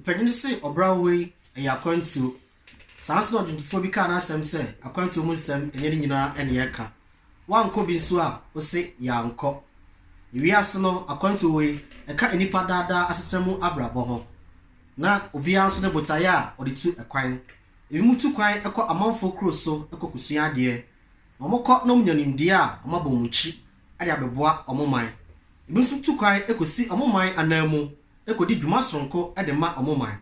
Mpanyin no se ɔbra horow yi yɛ akwantuo. Saa ara nso na ɔdwontofoɔ bi kaa n'asɛm sɛ akwantuo mu nsɛm nyɛ ne nyinaa na yɛka. Woankɔ bi nso a, wose yɛankɔ. Wiase no akwantuo wei, ɛka nnipa daa daa asetena mu abrabɔ ho. Na obiara nso ne botaeɛ a ɔde tu kwan. Ebinom tu kwan kɔ amanfoɔ kuro so kɔkɔsua adeɛ. Wɔkɔ na wɔnya nimdeɛ a, wɔabɔ wɔn ti. de abɛboa wɔn man. Ebi nso tu kwan kosi wɔn man ananmu kodi dwuma soronko de ma wɔn man.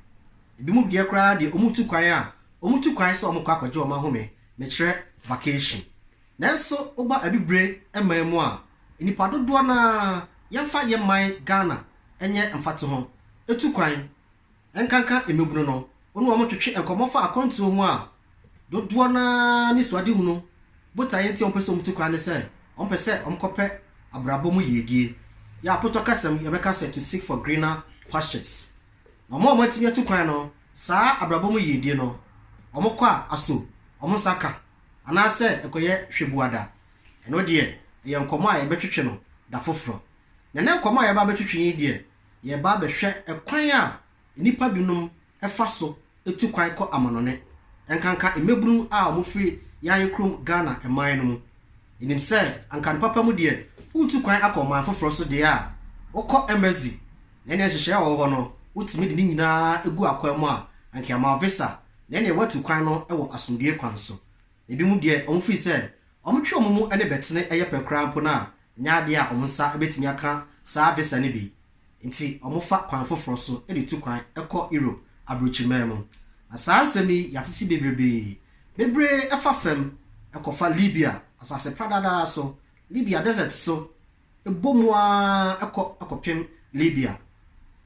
Ebinom deɛ koraa deɛ wɔtu kwan a, wɔtu kwan sɛ wɔkɔ akɔgye wɔn ahome, mekyerɛ vacation. Nanso woba abibire man mu a, nnipa dodoɔ no ara, yɛmfa yɛn man Ghana nyɛ mfatoho, tu kwan. nkanka mmabunu no, wo ne wɔn ntwetwe nkɔmmɔ fa akwantuo ho a, dodoɔ no ara ne suadehunu botaeɛ nti a wɔpɛ sɛ wɔtu kwan ne sɛ wɔpɛ sɛ wɔkɔpɛ abrabɔ mu yiedie. Yɛn apotɔ kasa mu, yɛbɛka sɛ to seek for greener pastures. Na wɔn a wɔatumi atu kwan no, saa abrabɔ mu yiedie no, wɔkɔ a, aso wɔn nsa ka anaasɛ ɛkɔyɛ hwɛbuada? Ɛno deɛ, ɛyɛ nkɔmmɔ a yɛbɛtwetwe no da foforɔ. Na ɛnnɛ nkɔmmɔ a yɛreba abɛtwetwe yi deɛ, yɛreba abɛhwɛ kwan a nnipa binom fa so tu kwan kɔ amannɔne, ɛnkanka mmabunu a wɔfiri yɛn ayɛ kurom Ghana man no mu. Yɛnim sɛ anka no papa mu deɛ woretu kwan akɔ ɔman foforɔ so deɛ a, wokɔ embassy na ɛneɛ nhyehyɛeɛ a ɛwɔ hɔ no wotumi de ne nyinaa gu akwan mu a anka yɛama wo visa na ɛneɛ woatu kwan no wɔ asomdwoeɛ kwan so. Ebinom deɛ wɔfiri sɛ wɔtwe wɔn mu ne bɛtene yɛ pɛ koraa mpo no a, nyɛ ade a wɔn nsa betumi aka saa visa no bi nti, wɔfa kwan foforo so de tu kwan kɔ Europe aburokyiman mu. Na saa nsɛm yi, yɛatete bebrebe. Bebree fa fam kɔfa Libya asase pradadaa so, Libya desert so, bɔ mu ara kɔ kɔpem Libya.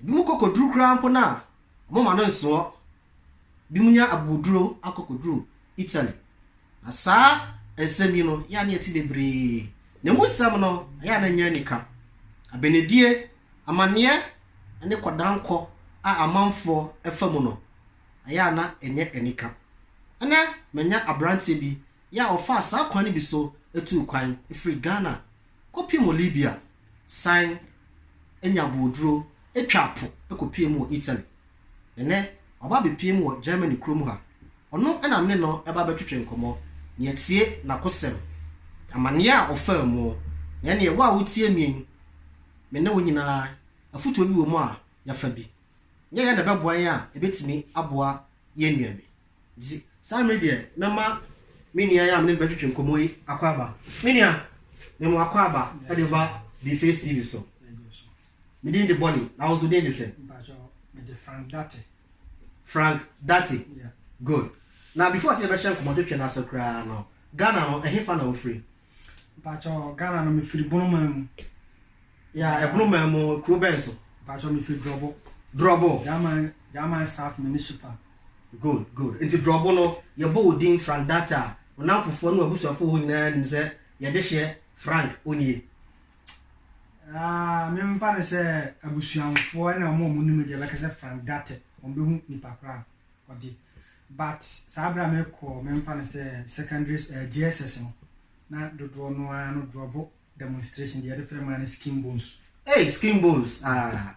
Ebinom kɔ koduru koraa mpo no a, wɔmma no nsoɔ binom nya abooduro akɔ kɔduru Italy. Na saa nsɛm yi no, yɛ a na yɛte bebree. Na ɛmu nsɛm no, ɛyɛ a na ɛnyɛ anika. Abenedie, amanneɛ ne kɔdankɔ a amanfoɔ fa mu no, ɛyɛ a na ɛnyɛ anika. Ɛnnɛ, manya aberanteɛ bi, yɛ a ɔfaa saa kwan no bi so tuu kwan firi Ghana kɔpem Libya, san nya abooduro, twaa po kɔpuee mu wɔ Italy. Nnɛ, waba abepue mu wɔ Germany kurom ha. Ɔno na me ne no ba bɛtwetwe nkɔmmɔ, na yɛatie n'akosɛm, amanneɛ a ɔfaa mu, na ɛnneɛ wo a wotie me yi, me ne wo nyinaa, afotuo bi wɔ mu a yɛafa bi. Nyɛ yɛn na ɛbɛboa yɛn a, ɛbɛtumi aboa yɛn nua bi. Nti, saa mmerɛ yi deɛ, mɛma me nua yi a me ne no bɛtwetwe nkɔmmɔ yi akɔ aba. Me nua, mema wo akɔ aba de ba Bface TV so. Me din de Bonnie, na wo nso din de sɛn? Mpakyɛ, me de Frank Date. Frank Date? Yeah. Good. Na before sɛ yɛbɛhyɛ nkɔmmɔtwetwe no ase koraa no, Ghana no, ɛhefa na wofiri? Mpakyɛ, Ghana no, mefiri Bonoman mu. Yeah, Bonoman mu, kuro bɛn so? Mpakyɛ, mefiri Drɔbo. Drɔbo? Gyaman, Gyaman South Municipal. Good, good. Nti Drɔbo no, yɛbɔ wo din Frank Date a, wo nnamfofoɔ ne w'abusuafoɔ hɔ nyinaa nim sɛ yɛdehyeɛ Frank Onie? Ah, me mfa no sɛ abusuamfoɔ ɛna ɔmo ɔmo nim deɛ bɛka sɛ Frank Date ɔmo bɛhu nipa koraa ɔde but saa berɛ a mekɔ me mfa no sɛ secondary uh, eh, JSS no na dodoɔ no ara no drɔbo demonstration deɛ yɛde frɛ maa no skin bones. Hey, skin bones ah.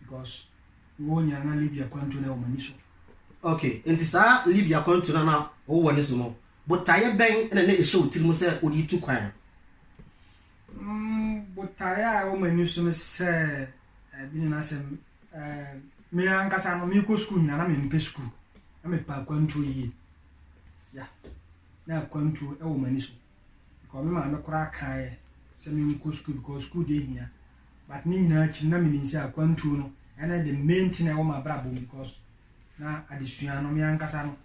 Because wo nyina na Libya kwantu no wɔ m'ani so. Okay, nti saa Libya kwantu no na wo wɔ ne so no, botaeɛ bɛn na na ɛhyɛ wo tirim sɛ wode tu kwan no? Mm, botaeɛ a ɛwɔ m'ani so no sɛ, eh, bi ne n'asɛm, eh, me ankasa no mekɔ sukuu nyina na mempɛ sukuu, na mepɛ akwantuo yie. Ya, na akwantuo ɛwɔ m'ani so. Because me maame koraa kaeɛ sɛ me nkɔ sukuu because sukuu deɛ hia but ne nyinaa akyi na menim sɛ akwantuo no ɛna the main thing ɛwɔ m'abrabɔ mu because na adesua no me ankasa no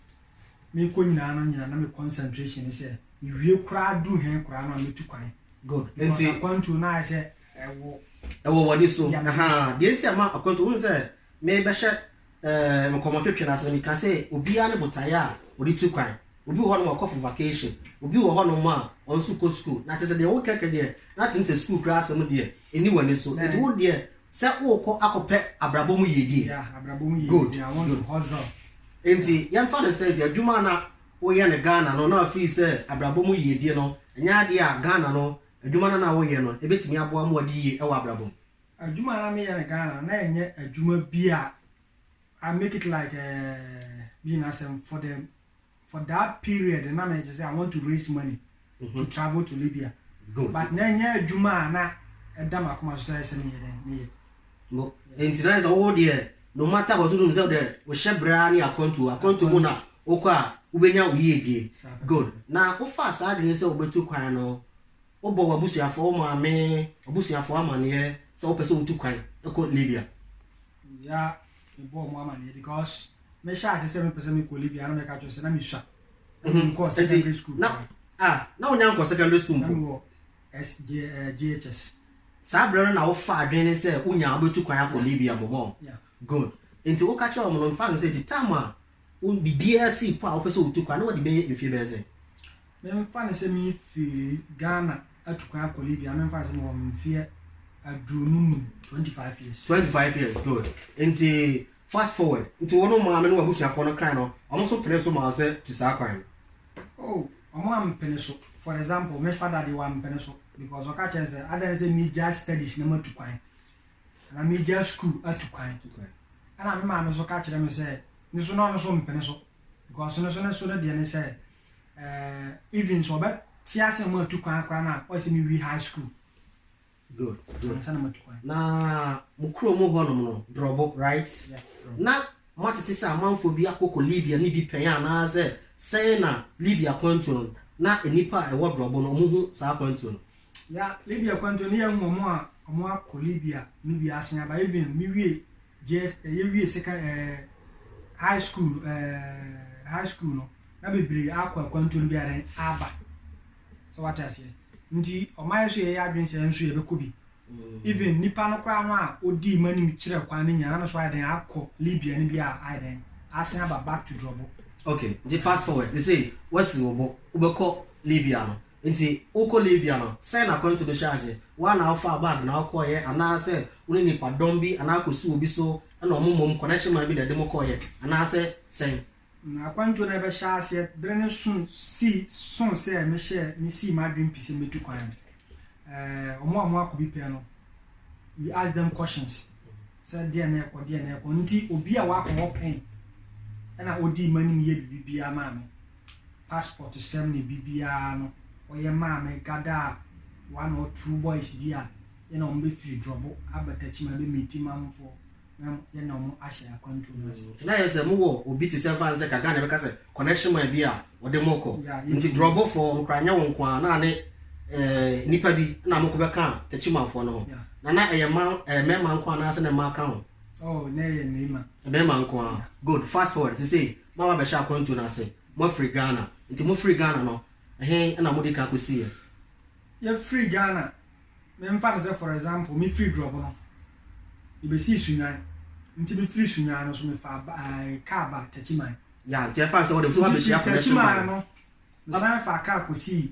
mekɔ nyinaa no nyinaa na me concentration ne sɛ mewie koraa duru hɛn koraa no a metu kwan good because akwantuo no ayɛ sɛ ɛwɔ ɛwɔ wɔne so deɛ nti ama akwantuo wohu sɛ Merebɛhyɛ eh, nkɔmmɔtwetwe no ase no, meka sɛ obiara ne botaeɛ a ɔde tu kwan. Obi wɔ hɔnom a ɔkɔ for vacation, obi wɔ hɔnom a ɔno nso kɔ sukuu. Na kyerɛ sɛ deɛ wokɛkɛ deɛ, na te mu sɛ sukuu koraa asɛm deɛ, ɛnni w'ani so. Enti wo deɛ, sɛ worekɔ akɔpɛ abrabɔ mu yiedie. Yeah, abrabɔ mu Good, yiedie. I want good. to hustle. Enti yɛmfa no sɛ nti adwuma a na woyɛ no Ghana no, na afiri sɛ abrabɔ mu yiedie no, ɛnyɛ adeɛ a Ghana no, adwuma no a na woyɛ no, ɛbɛtumi aboa ma wadi yie wɔ abrabɔ mu. Adwuma a na meyɛ no Ghana no, na ɛnyɛ adwuma bi a I make it like ɛɛ eh, bi na asɛm for the for that period na meyɛ sɛ I want to raise money mm -hmm. to mhm. travel to Libya. Good. But na ɛnyɛ adwuma a na ɛda ma akoma so sɛ ɛsɛ meyɛ dɛn meyɛ. No, nti na sɛ wo deɛ no matter what wonim sɛ wodɛ wohyɛ berɛ a ne akwantu akwantu mu na wokɔ a wobɛnya wo yiedie good na wofaa saa adwene sɛ wobɛtu kwan no Wobɔ w'abusuafoɔ, wo maame, w'abusuafoɔ amaneɛ sɛ wopɛ sɛ wotu kwan kɔ Libya? Yeah, mebɔɔ wɔn amaneɛ because mehyɛɛ ase sɛ mepɛ sɛ mekɔ Libya na meka kyerɛ wɔn sɛ na mesua. Na Mhm. menkɔɔ Nti, secondary school na, koraa. ah, na wonya nkɔ secondary school Na mpo. mewɔ S, J, eh, JHS. Saa berɛ no na wofa adwene sɛ wonya a wobɛtu kwan akɔ Yeah, Libya mmom ɔ? yeah. Good. Nti woka kyerɛɛ wɔn no, mfa no sɛ the time a wo, biribiara sii po a wopɛ sɛ wotu kwan, na wode bɛyɛ mfeɛ bɛyɛ sɛn? Memfa no sɛ mefiri Ghana atu kwan akɔ Libya, memfa no sɛ mewɔ mfeɛ aduonu num, twenty five years. Twenty five years, good. Nti fast forward, nti wo ne wo maame ne w'abusuafoɔ no kan no, wɔn nso pene so maa wo sɛ tu saa kwan no? Oh, wɔn ampene so. For example, me father deɛ wampene so because ɔka kyerɛ sɛ adɛn ne sɛ megyae studies na matu kwan anaa megyae school atu kwan. Ɛna me maame nso ka kyerɛ me sɛ ne so na ɔno nso mpene so because ne so ne so no deɛ ne sɛ eh, even sɛ ɔbɛ te ase ma atu kwan koraa na ɔyɛ sɛ mewi high school good good ansa na matu kwan na mo kuro mu hɔ nom no drɔbo right yeah, drɔbo. na moatete sɛ amanfoɔ bi akɔkɔ libya ne bi pɛn anaasɛ sɛn na libya kwantuo no na nnipa a ɛwɔ drɔbo no ɔmo hu saa kwantuo no ya libya kwantuo no yɛahu ɔmo a ɔmo akɔ libya no bi asen aba even mewie Gyes yɛ wie sekan ɛɛ high school no ɛɛ high school no na bebree akɔ akwantuo no bi a dɛn aba sɛ wate aseɛ nti ɔma yɛ so yɛyɛ adwene sɛ nso yɛbɛkɔ bi even nipa no koraa no a ɔdii ma nim kyerɛ kwan no nyina na no so ayɛ dɛn akɔ libya no bi a ayɛ dɛn asen aba back to drɔbo ok nti fast forward ne sɛ wasi wo bo wobɛkɔ libya no Enti wokɔ Libya no, sɛn na akwantu no hyɛɛ ase? Wo ara na wofaa bag na wokɔeɛ, anaasɛ wo ne nnipadɔm bi anaa kɔsii obi so na wɔn mmom kɔnɛhye man bi na ɛde mo kɔeɛ, anaasɛ sɛn? Na akwantuo no rebɛhyɛ aseɛ berɛ no soo sii soo sɛ mehyɛɛ mesii m'adwene pi sɛ mɛtu kwan no, eh, wɔn a wɔakɔ bi pɛɛ no, we asked them questions sɛ deɛn na ɛrekɔ, deɛn na ɛrekɔ, nti obi a wakɔ hɔ pɛn na ɔdii m'anim yɛɛ biribi biara maa me. passport sɛm ne bibiaa no ɔyɛ maa me gadaa one or two boys bi a yɛne ɔmo bɛ firi drɔbo aba takyima bɛ meeti mamfoɔ na yɛne ɔmo ahyɛ akwantuo no ase. Nti na ayɛ sɛ mo wɔ obi te sɛ nfa nsɛ kakra na ɛbɛka sɛ connection man bi a ɔde mo kɔ nti drɔbo foɔ no koraa nyɛ wo nko ara na ane eh nipa bi na mo ko bɛ ka takyima foɔ no ho na na ɛyɛ ma eh mɛma nko ara anaasɛ na mmaa ka ho. Oh na ɛyɛ mɛma. Mɛma nko ara good fast forward sesei Mo a moabɛhyɛ akwantuo no ase, moafiri Ghana. Nti mofirii Ghana no, ɛhe na modii kan kɔsiiɛ? Yɛfirii Ghana, memfa no sɛ for example, mefirii Drɔbo no, yɛbɛsii Sunyani. Nti mefirii Sunyani no nso, mefaa ba ɛɛ kaa baa Techiman. Yeah, nti ɛfa no sɛ wode nso Nti woabɛhyia firi connection Techiman ban. no, mesan faa kaa kɔsii.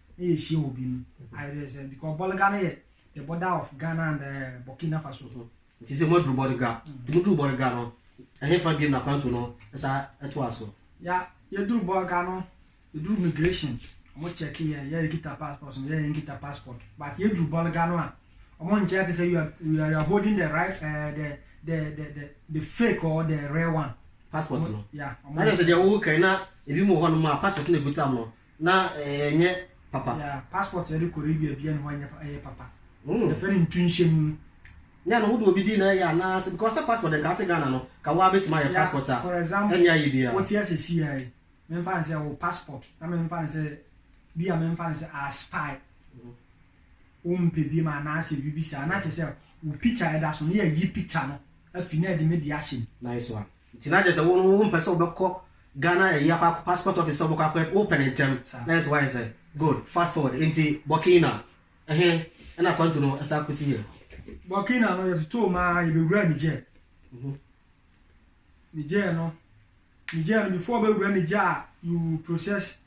na yɛhyia obi no ayɛ dɛ sɛ because Bolga no yɛ the border of Ghana and uh, Burkina Faso. nti sɛ moaduru Bolga nti moduru Bolga no ɛhefa biam na kwanto no ɛsa ɛtoa so ya yɛduru Bolga no yɛduru migration ɔmo check yɛ yɛ yɛkita passport no yɛ yɛnkita passport but yɛduru Bolga no a ɔmo nkyɛ te sɛ you are you are holding the right uh, the, the the the the fake or the real one passport no ya ɔmo na kyerɛ sɛ deɛ wowo kan na ebi mu wɔ hɔ nom a passport no ɛgu tam no Na ɛnyɛ papa. Yeah, passport yɛde kɔ Arabia bia ne hɔ ɛnyɛ ɛyɛ papa. Mm. Yɛfɛ no ntu nhyɛ mu. Yeah, no wode obi di na ɛyɛ anaa sɛ because sɛ passport nka ate Ghana no ka wo abɛtumi ayɛ passport a. For example, ɛnyɛ ayɛ bia. Wote ase si a yi, memfa no sɛ wo passport na memfa no sɛ bi a memfa no sɛ a spy. Wo mpɛ bi ma anaa sɛ bibi saa na kyɛ sɛ wo picture ɛda so na yɛ yi picture no afi na ɛde me de ahyɛ mu. Nice one. Nti na kyerɛ sɛ wo no wo mpɛ sɛ wo bɛkɔ Ghana ɛyi akɔ akɔ passport office sɛ wo bɛkɔ akɔ wo pɛ no ntɛm na yɛ sɛ wayɛ sɛ good fast forward nti Burkina ɛhe ɛna akwantu no ɛsa kɔsi yɛ. Burkina no yɛ totoo mu ara yɛ bɛwura Niger Niger no Niger no before wobɛwura Niger a you process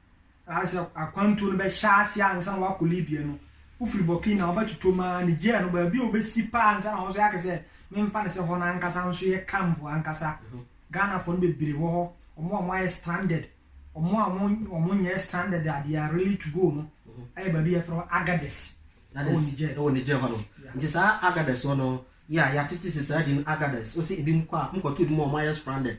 Aa sɛ akwantuo no bɛhyɛ aseɛ ansa na wakɔ Libya no, wofiri Burkina wobɛtotom aa Niger no baabi a wobɛsi paa ansa na wo nso yɛaka sɛ memfa no sɛ hɔ no ankasa nso yɛ camp ankasa. Ghanafoɔ no bebree wɔ hɔ, wɔn a wɔayɛ stranded, wɔn a wɔn wɔn nyɛɛ stranded a they are really to go no ayɛ baabi a yɛfrɛ hɔ Agadez That ɛwɔ is, Niger. ɛwɔ Niger hɔ nom. Yeah. Nti saa Agadez hɔ no, yɛ a yɛatete sesaadi no Agadez, wo sɛ ebinom kɔ a, wɔkɔto ebinom a wɔayɛ stranded,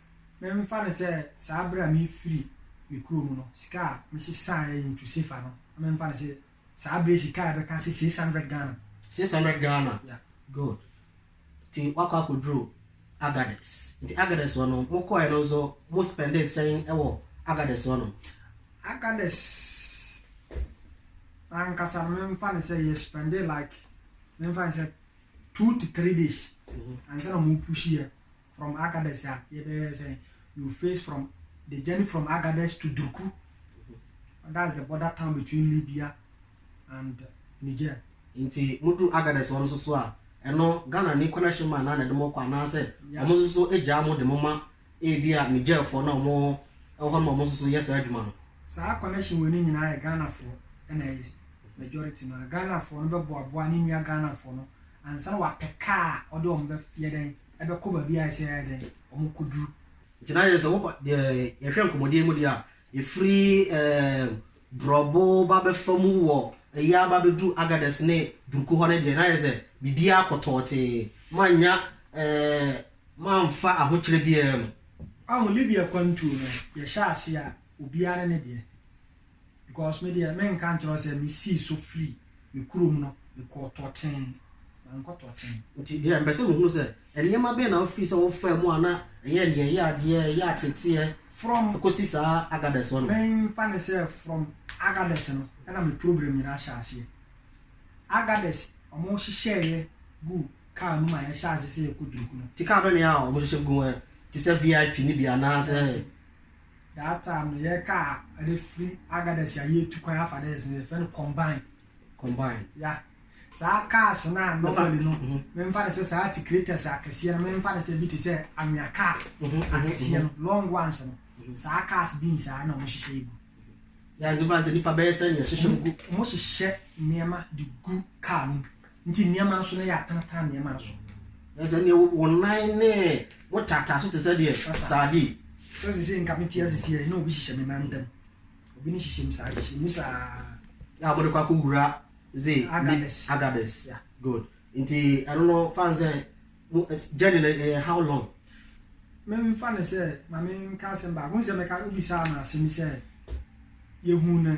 Memfa no sɛ saa bere a merefiri me kurom no, sika a mesesaeɛ into sefa no, na memfa no sɛ saa bere sika a ɛbɛka sɛ six hundred Ghana. Six hundred Ghana? Yeah. Good. Nti woakɔ akɔduru Agadez. Nti Agadez hɔ no, mokɔeɛ no nso mo spɛndee sɛn wɔ Agadez hɔ nom? Agadez ankasa no, memfa no sɛ yɛ spɛndee like, memfa no sɛ two to three days ansa na wɔpuhyiiɛ From Agadez a yɛbɛyɛ sɛ you face from the journey from Agadez to Durku that's the border town between Libya and Niger. Nti mo duru Agadez wɔn nso so a ɛno Ghana ni connection man na na ɛde mo kɔ anaa sɛ wɔn nso so gyaa mo de mo ma ebi a Niger foɔ na wɔn ɛwɔ hɔ no ma wɔn nso so yɛ saa adwuma no. Saa connection wei no nyinaa yɛ Ghana foɔ ɛna ɛyɛ majority no a Ghana foɔ no bɛboaboa ne nua Ghana foɔ no ansa na wapɛ car a ɔde wɔn bɛ yɛ dɛn? bɛkɔ baabi a ɛsɛ sɛ wɔkɔduru. Nti na yɛn sɛ wɔkɔ deɛ yɛhwɛ nkɔmmɔdie mu deɛ a, ɛfiri ɛɛm Borɔbo ba bɛfa mu wɔ ɛyɛ aba bɛduru Agadez ne Durku hɔ no deɛ na yɛ sɛ biribiara kɔ tɔɔtee. Moannya ɛɛm moamfa ahokyerɛ biara mu. Wahu Libya kwantuo no, yɛhyɛ aseɛ a, obiara ne ne deɛ. Because me deɛ menka nkyerɛ wo sɛ mesii so firi me kurom no mekɔɔ Tɔten. Mankɔ Tɔten. Nti deɛ mepɛ sɛ mehunu sɛ, nneɛma bɛn na wofii sɛ wofaa mu a na ɛyɛ deɛ ɛyɛ adeɛ, ɛyɛ ateeteɛ From, kɔsi saa Agadez hɔ no? menfa no sɛ from Agadez no na me problem nyinaa hyɛɛ aseɛ. Agadez, wɔhyehyɛɛ yɛ guu car no mu a yɛhyɛɛ aseɛ sɛ yɛkɔ Durku no. Nti car bɛn na ɛyɛ a wɔhyehyɛ gu mu ɛ? Te sɛ VIP no bi anaasɛ? That time no yɛ car ɛde firi Agadez a yɛtu kwan afa dɛ ɛsɛ yɛfɛ no combine. Combine. Ya. Saa cars no a normally no mhm. memfa no sɛ saa tikretɛs akɛseɛ no memfa no sɛ bi te sɛ anwea car mhm, mhm, akɛseɛ no long ones no saa cars bi nsaa na ɔmo hyehyɛ egu. Yàrá ìdúbà ntẹ nípa bẹ́ẹ̀ sẹ́ ni ẹ̀hyehyẹ gu. Wọ́n hyehyẹ nneɛma de gu car no mu. Nti nneɛma no so na yɛatanatan nneɛma no so. Sɛ deɛ wo nan ne wo taataa so te sɛ deɛ saade. Sɛ sese nka mete ase si yɛ na obi hyehyɛ me nan ntam. Obi ne hyehyɛ mu saa hyehyɛ mu saa. Na wɔde kɔ akɔ wura ze agades. Agades. Yeah. Good. Nti ɛno no fan sɛ mo journey no ɛyɛ how long? Memfa ne sɛ ma menka asɛm baako nsɛ mɛka obi saa ma asɛm sɛ yɛhu no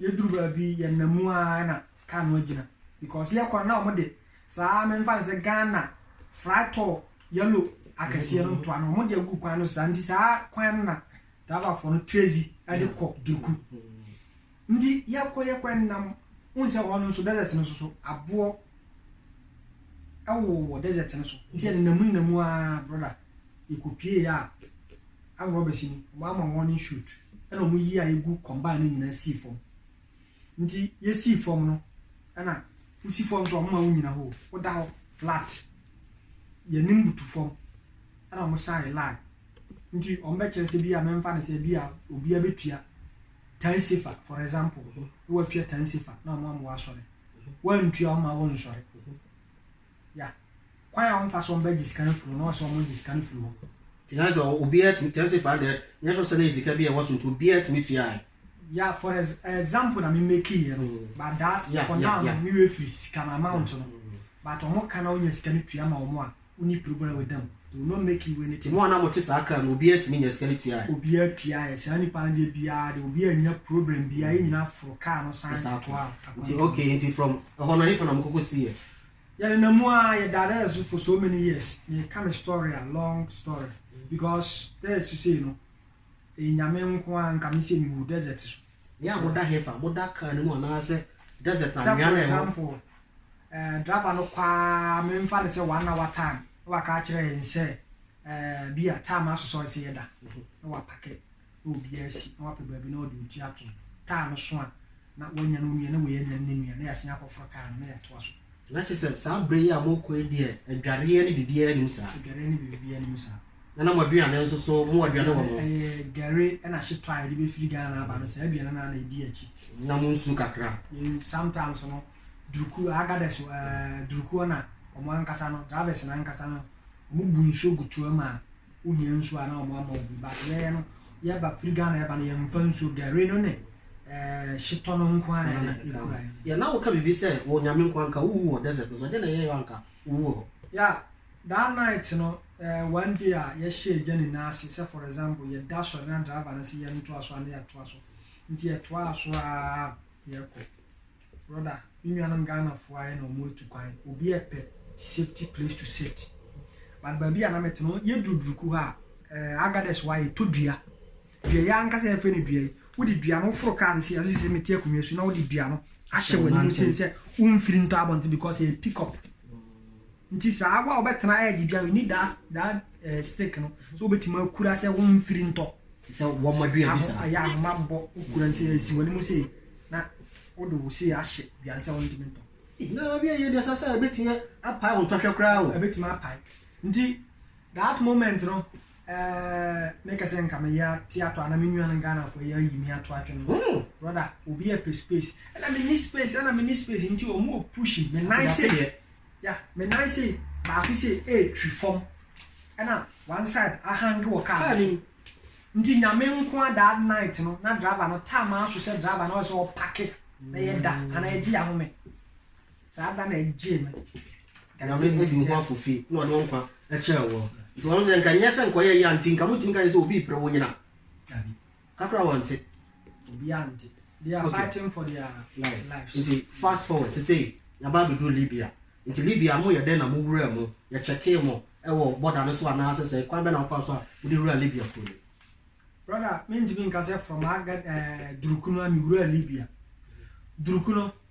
Yɛduru baabi yi, yɛnam mu ara na kaa no agyina because yɛ kwan na wɔn de saa memfa no sɛ Ghana fraktor yellow akɛseɛ no ntoa no wɔn de agu kwan no so saa nti saa kwan no na driverfoɔ no trezi de kɔ Durku nti yɛkɔ yɛkɔ nam n sɛ hɔ no nso desert no soso aboɔ ɛwowɔ desert no so nti yɛnenam nnamu a brother yɛkɔpie a Arm robbersy no ɔmo ama warning shoot ɛna ɔmo yii a egu combine no nyinaa sii fɔm nti yɛsii fɔm no ɛna wosi fɔm nso ɔmo ma wo nyina hoo woda hɔ flat yɛnim butu fɔm ɛna ɔmo sign line nti ɔmo bɛkyerɛ sɛ bia mɛmfa no sɛ bia obia bɛtua tan safer for example na watua tan safer na ɔmo ama wasɔre wantua ɔmo ma wonsɔre Ya. Kwan a wɔfa so bɛgye sika no firi hɔ na wɔsɛ wɔgye sika no firi hɔ. Nti na sɛ obiara tumi, kyerɛ sɛ faa deɛ, nyɛ sure sɛ na yɛ sika bi a ɛwɔ so nti obiara tumi tuae. Ya, for ex, example na me make yɛ no, but that, Ya, for ya, now no, ya. me werɛ firi sika no amount no, but wɔn ka na wonya sika no tua ma wɔn a, wonni problem with them, they will not make you Nti anything. mo a na mote saa car mu no, obiara tumi nyaa sika no tuae? Obiara tuaeɛ, saa nipa no deɛ biara deɛ, obiara annya problem biara, yɛn nyinaa foro car no san Exactly. toaa Nti akwantuo no. okay, nti from ɛhɔ no ɛhefa na mokɔkɔsiiɛ? Yɛnenam mu ara yɛ daadaa so for so many years meka me story a long story because dɛ sisei no Nyame nko ara nka me sɛ me wu desert so. Me a moda hefa? Moda car no mu anaasɛ desert anwea na ɛwɔ? Sɛ for example eh driver no kɔ ara me nfa no sɛ one hour time na waka akyerɛ yɛn sɛ eh bia time asosɔ nsɛ yɛda na wa pake na obiara asi na wapɛ baabi na ɔde oti ato kaa no so a, na wanya no nua na wei anya no ne nua, na yɛasan akɔforo kaa no na yɛatoa so. Na kyerɛ sɛ saa berɛ yi a morekɔ yi deɛ adwareɛ ne biribiara nnim saa. Adwareɛ ne biribiara nnim saa. Na na mo aduane nso so, mowɔ aduane wɔ mo. Ɛyɛ gari ɛna ahyetɔ a yɛde bɛfiri Ghana aba no, saa aduane no ara na ɛdi akyi. Na mo nsuo kakra. Yɛn sometimes no, duruku, agadɛs, duruku ɛna wɔn ankasa no, drivers no ankasa no, wɔbu nsuo gu toa mu a, wohia nsuo a na wɔn ama obi ba yɛn no yɛba firi ghana yɛba no yɛmfa nsuo gari no ne ɛɛ hyetɔ no nko ara na ekura yɛn. yɛ na woka biribi sɛ wɔ nyame nko anka wowu wɔ desert no so ɛdeɛ na ɛyɛ yɛ anka wowu wɔ hɔ. ya that night no ɛɛ one day a yɛhyɛ agya nyinaa ase sɛ for example yɛda sɔre na driver no sɛ yɛntoa so a na yɛtoa so nti yɛtoaa so aa yɛkɔ. Brother me nuanom Ghana foɔ ayɛ na ɔmo atu kwan obi ɛpɛ safety place to sit but baabi a na mete no yɛ duru duruku hɔ a ɛɛ Agadez hɔ a yɛtɔ dua dua yi ankasa yɛfrɛ no dua yi wode dua no woforo kaa no sei ase sɛ mete akonnwa so na wode dua no ahyɛ w'anim sei sɛ womfiri ntɔ abɔnten because ɛyɛ pick up Nti saa wo a wobɛtena edge bia you need that that uh, stick no so wobɛtumi akura sɛ wo mfiri ntɔ sɛ wɔma dua bi saa ayɛ ahoma bɔ wokura nsɛ asi w'ani mu sei na wode wo sei ahyɛ dua no sɛ wontumi ntɔ nana bi ɛyɛ deɛ sɛ sɛ ɛbɛtumi apae wo ntɔhwɛ koraa o ɛbɛtumi apae nti that moment no eh, mekɛ sɛ nka meyɛ ate ato ana me nuanom ghanafoɔ yɛ ayi me ato atwe no hmm. brother obi ɛpɛ space ɛna menni space ɛna menni space nti ɔmo push me nan se Yeah, me nan sei baako sei ɛretwi fam ɛna one side ahange wɔ car no so. Nti nyame nkoa that night no na driver no taa maa so sɛ driver no ɔyɛ sɛ ɔpake na yɛ da ana ɛgye yɛ ahome. Saa da na ɛgyee me. Nyame ɛdi wo ho afofi na ɔde wo nkwa ɛkyɛɛ wɔ. Nti wɔn sɛ nka nyɛ sɛ nka ɔyɛ yɛ nti nka mo tumi ka yɛ sɛ obi pere wo nyina. Dabi. Kakra wɔn te. Obiara nte. They are okay. fighting for their life. lives. Nti fast forward sese yaba abɛduru Libya. Nti Libya mo yɛ dɛn na mo wura mu? Yɛ kyɛkee mo ɛwɔ bɔda no so anaa sese kwan bɛ na mo fa so a mo de wura Libya kuro no. Brother, mi ntumi nka sɛ from aga ɛɛ eh, durukunu a mi wura Libya. Durukunu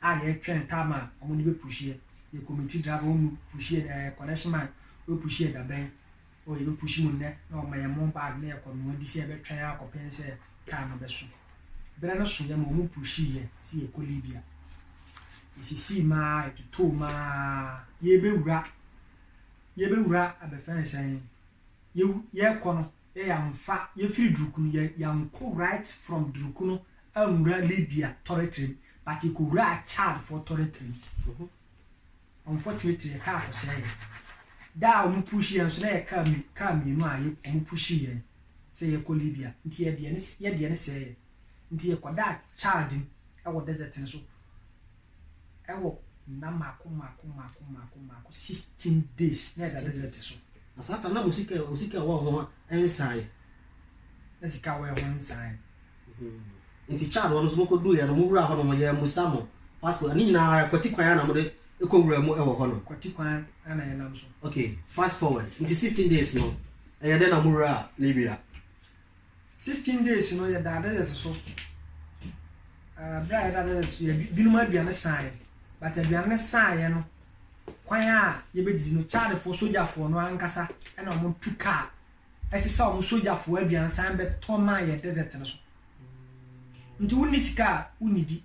a yɛ twɛn time a ɔmo de bɛ push yɛ yɛ committee driver wɔn mu push yɛ ɛɛ collection man wɔ push yɛ dabɛn o yɛ bɛ push mu nnɛ na ɔmo yɛ mo bag na yɛ kɔ noa bi sɛ yɛ bɛ twɛn akɔ pɛn sɛ time no bɛ so berɛ no so yɛ ma ɔmo push yɛ si yɛ kɔ libya yɛ sisi maa yɛ totoo maa yɛ bɛ wura yɛ bɛ wura abɛfɛn sɛn yɛ yɛ kɔ no yɛ yɛanfa, yɛfiri Durukunu, yɛ yɛankɔ right from Durukunu anwura Libya tɔretere mu, but yɛkɔwuraa Chad foɔ tɔretere mu. Unfortunately, yɛ car kɔsɛɛ yɛ. Da a wɔn pushi yɛn nso, na yɛ car mi, car mmienu a yɛ, wɔn pushi yɛn sɛ yɛkɔ Libya, nti yɛ deɛ no, yɛ deɛ no sɛɛ yɛ. Nti yɛkɔdaa Chad mu wɔ desert no so. wɔ nna mmaako mmaako mmaako mmaako mmaako, sixteen days na ɛda ne dɛte so. Na saa ta na mo sika mo sika ɛwɔ ho nsan. Na sika ɛwɔ ho nsan. Mm-hmm. Nti Chad hɔ no so mokɔ duiɛ no mo wura hɔ no mo yɛ mo sa mo passport ne nyinaa kɔti kwan ana mo de kɔ wura mu ɛwɔ hɔ no. Kɔti kwan ana yɛ nam so. Okay, fast forward. Nti sixteen days no ɛyɛ dɛ na mo wura Libya. Sixteen days no yɛdaa desert so uh, berɛ a yɛda desert so yɛ binom aduane saeɛ but aduane no saeɛ no kwan a yɛbɛdidi no chadfoɔ sogyafoɔ no ankasa ɛna wɔn tu kaa ɛsesa wɔn sogyafoɔ aduane san bɛtɔ maa yɛ desert no so nti wonni sika a wonnidi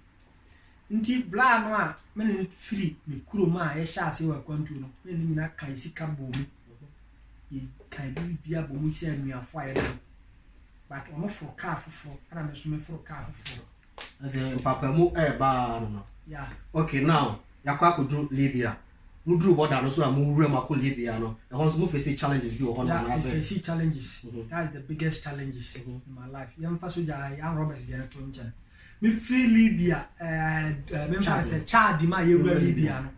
Ntsi bra no a me no firi me kurom a yɛhyɛɛ aseɛ wɔ akwantuo no, me ne no nyina kae sika bɔɔ mu. Yɛkae biribia bɔ mu sɛ anuafoɔ a yɛne no. But ɔno foro kaa foforɔ, ɛna me nso meforo kaa foforɔ. Ɛsɛ mpapamu ɛreba ara no no. Yeah. Okay, now yɛakɔ akɔduru Libya. Moduru bɔda no so a mowura mu akɔ Libya no, ɛhɔ nso mofesi challenges bi wɔ hɔ no Yeah, anaasɛ? mefɛsi challenges. Mhm. That's the biggest challenges Mhm. in my life. Yɛmfa sogya ha yi, armed robbers deɛ no to nkyɛn. Me firi Libya ɛɛ me nfa sɛ Chad mu a yɛwura Libya no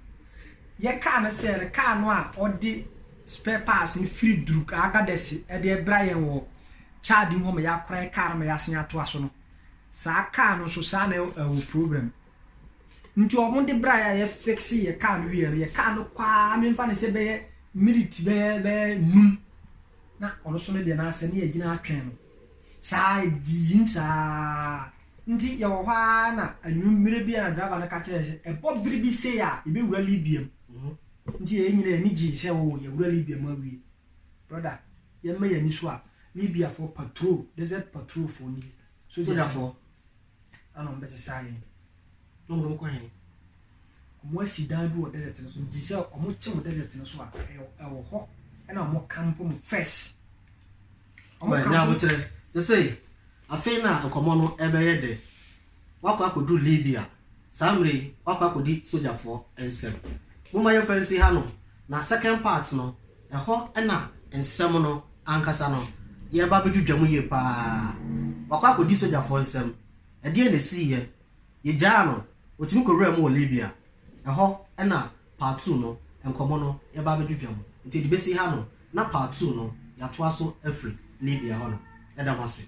yɛ kaa no sɛ no kaa no a ɔde spare parts no firi Druk Agadez ɛde ɛbra yɛn wɔ Chad mu hɔ ma yɛakora yɛ kaa no ma yɛasen atoa so no saa kaa no nso saa na ɛwɔ problem nti wɔn de bra yɛ a yɛ fixe yɛ kaa no wie no yɛ kaa no kwaa me nfa no sɛ bɛyɛ minute bɛyɛ bɛyɛ num na ɔno so no deɛ n'asɛ ne yɛ gyina atwɛn no. Saa ara, yɛdedidii mu saa ara. Nti yɛwɔ hɔ ara na anwuem mmere bi a na driver no ka kyerɛ yɛn sɛ, Ɛbɔ bere bi sei a, yebewura Libya mu. Nti yɛn nyinaa yɛn ani gyei sɛ, Oo, yɛawura Libya mu awie. Brɔda, yɛmma yɛn ani so a, Libiafoɔ patrol, desert patrolfoɔ nie, sogyafoɔ, na na wɔbɛsesa yɛn. Na wɔde wɔn kɔ he? Wɔasi dan bi wɔ desert no so, nti sɛ wɔkye mo desert no so a, ɛwɔ hɔ na wɔkampo mo first. Ɔmo ka ho. Sesei, afei na nkɔmmɔ no rebɛyɛ dɛ. Wɔakɔ akɔduru Libya. Saa mmerɛ yi, wɔakɔ akɔdi sogyafoɔ nsam. Momma yɛmfa nsi ha nom, na second part no, ɛhɔ na nsɛm no ankasa no yɛreba abɛdwidwa mu yie pa ara. Wɔakɔ akɔdi sogyafoɔ nsam. Ɛdeɛn na ɛsiiɛ? Yɛgyaa no, ɔtumi kɔwuraa mu wɔ Libya. Ɛhɔ na Part Two no, nkɔmmɔ no, yɛba abɛdwidwa mu. Nti yɛde bɛsi ha nom na Part Two no, yɛatoa so afiri Libya hɔ nom. Yɛda mo ase.